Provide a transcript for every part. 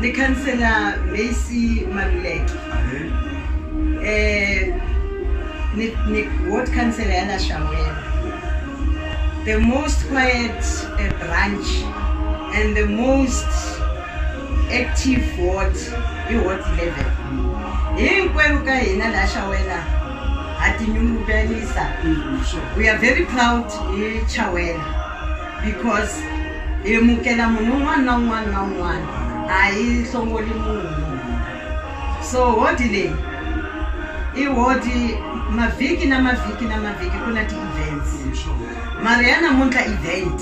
Ni khansela Macy Maluleke. Eh ni ni ward councillor ya la Shawela. The most quiet uh, branch and the most active ward i ward 11. Hinkwerhu ka hina la Shawela ha tinyungubyisa. We are very proud hi Chawela. because hi amukela munhu un'wana na un'wana na un'wana a hi hlongoli munhu so hodi leyi i hodi mavhiki na mavhiki na mavhiki ku na ti-events mara ya namuntlha event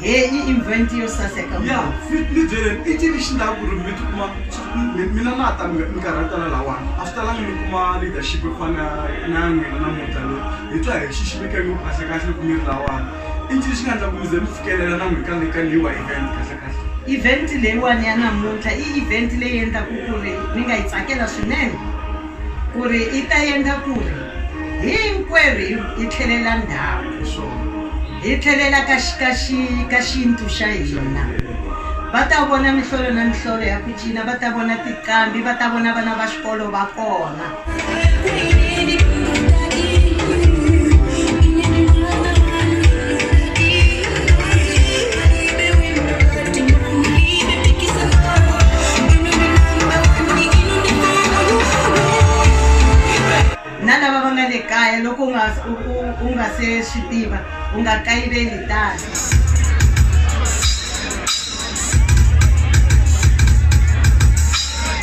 he i event yo saseka ya ni byeleni i cini xi ndlaku ri mi tikuma mina na ta mi mi karhatela lawani a swi talangi mi kuma leadership yo fana na ya n'wina namuntlha loyi hi twa hi xiximi ka ngopfu kahle kahle loko mi ri lawani i ncini xi nga endla ku mi ze mi fikelela na n'wina ka le ka leyiwa event kahle kahle event leyiwani ya namuntlha i event leyi endlaku ku ri ni nga yi tsakela swinene ku ri i ta endla ku ri Hinkwerhu hi tlhelela ndzhaku, hi tlhelela ka xintu xa hina. Va ta vona mihlolo na mihlolo ya ku cina, va ta vona tinqambi, va ta vona vana va xikolo va kona. na lava va nga le kaya loko u nga u nga se swi tiva u nga kayiveli tano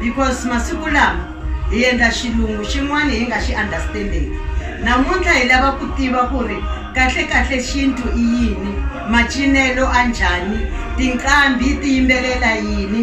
because masiku lama hi endla xilungu xin'wana hi nga xi understanding namuntlha hi lava ku tiva ku ri kahlekahle xintu i yini macinelo a njhani tinqambi ti yimbelela yini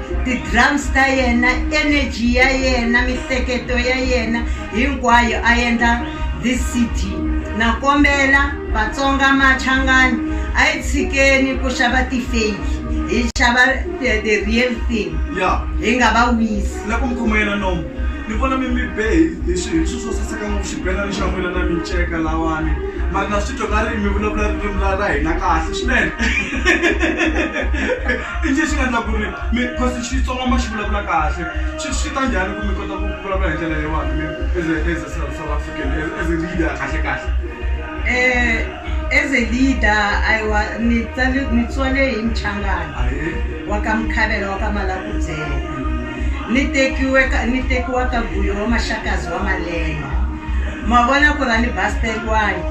ti-drums ta yena energy ya yena mihleketo ya yena hinkwayo a endla this cd na kombela vatsonga machangani a yi tshikeni ku xava ti-fake hi xava the, the real thing ya hi nga va wisi la ku mi khomayela nomo ni vona mi mi be hi- hi swi- hi swilo swo saseka ngopfu xibelani xa n'wina na minceka lawani mara na swi twa nga ri mi vulavula ririmi ra ra hina kahle swinene I ncini xi nga endla ku ri mi cause Xitsonga ma xi vulavula kahle swi swi ta njhani ku mi kota ku vulavula hi ndlela leyiwani mi as a as a South South African as as a leader kahle kahle As a leader ayiwa ni tsale ni tswale hi Muchangana ahee wa ka Mukhavela wa ka Malakubyela ni tekiwe ka ni tekiwa ka Guyo wa Maxakazi wa Malenga ma vona ku ra ni Basteriwani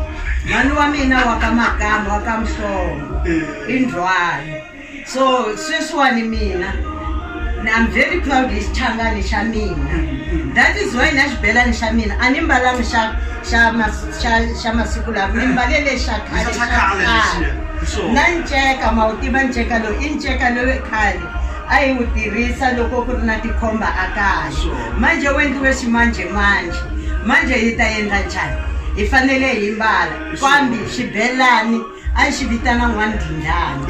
mhani wa mina wa ka Makamba wa ka Mhlongo i Ndzhwalo. so sweswiwani mina I'm very proud hi xichangani xa mina that is why na xibelani xa mina a ni mbalanga xa xa xa xa masiku lawa ni mbale lexa khale xa khale na nceka ma wu tiva nceka lowu i nceka lowu khale a yi wu tirhisa loko ku ri na tikhomba a kaya manjhe wu endliwe ximanjhemanjhe manjhe yi ta endla njhani hi fanele hi mbala kambe xibelani a xi vitana n'wandhinjani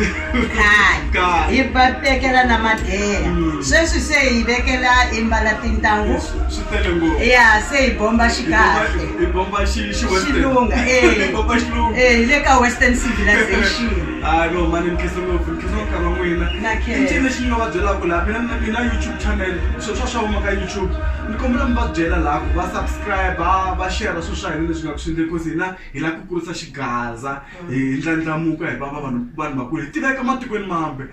khale Khale. hi va vekela na madeya sweswi se hi vekela hi mbala tintangu swi tele ngopfu ya se hi bomba xikahle hi bomba xi xi western. xilunga eh. Hi bomba xilunga Eh, hi le ka western civilization hayi no mani ni khensa ngopfu ni khensa nkarhi wa n'wina Na i khensa. ncini lexi ni nga va byelaka laha mina na mina youtube channel swo swa swa huma ka youtube ni kombela mi va byela laha ku va subscribe va share swilo swa hina leswi nga ku swi endle cause hina Hi lava ku kurisa xigaza hi ndlandlamuka hi va va vanhu vanhu vakulu hi tiveka matikweni mambe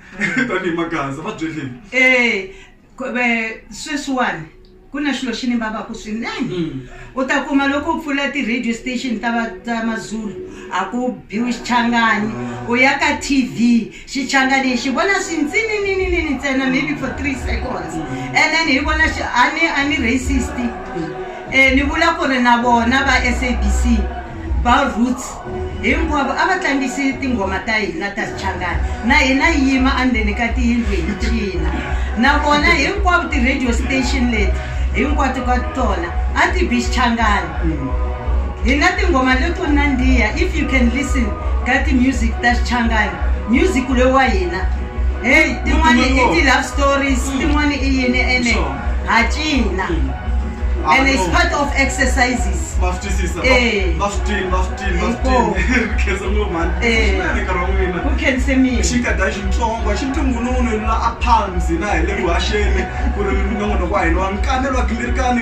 tanihi magaza va byeleni Eh, ku- ve- sweswiwani ku na xilo xi ni vavaka swinene u ta kuma loko u pfula ti-radio station ta va- ta mazulu a ku biwi xichangani u ya ka tv xichangani xi vona swi ntsinininini ntsena maybe for three seconds and then hi vona a ni a ni racist um ni vula ku ri na vona va s a b c va roots hinkwavo a va tlangisi tinghoma ta hina ta xichangani na hina yi yima endzeni ka tiyindlu hi cina na vona hinkwavo ti-radio station leti hinkwato ka tona a ti bi xichangani Hi na tinghoma leto nandziha if you can listen ka ti-music ta xichangani music loyi wa hina heyi tin'wani i ti-love stories mm. tin'wani i yini ene ha cina mm. and it's part of exercises eh. xinkadyani eh. xintsongo xi ntungununu la a palms na hi le vuhaxeni ku ri minongonoko wa hina wa nkamelo wa gingirikani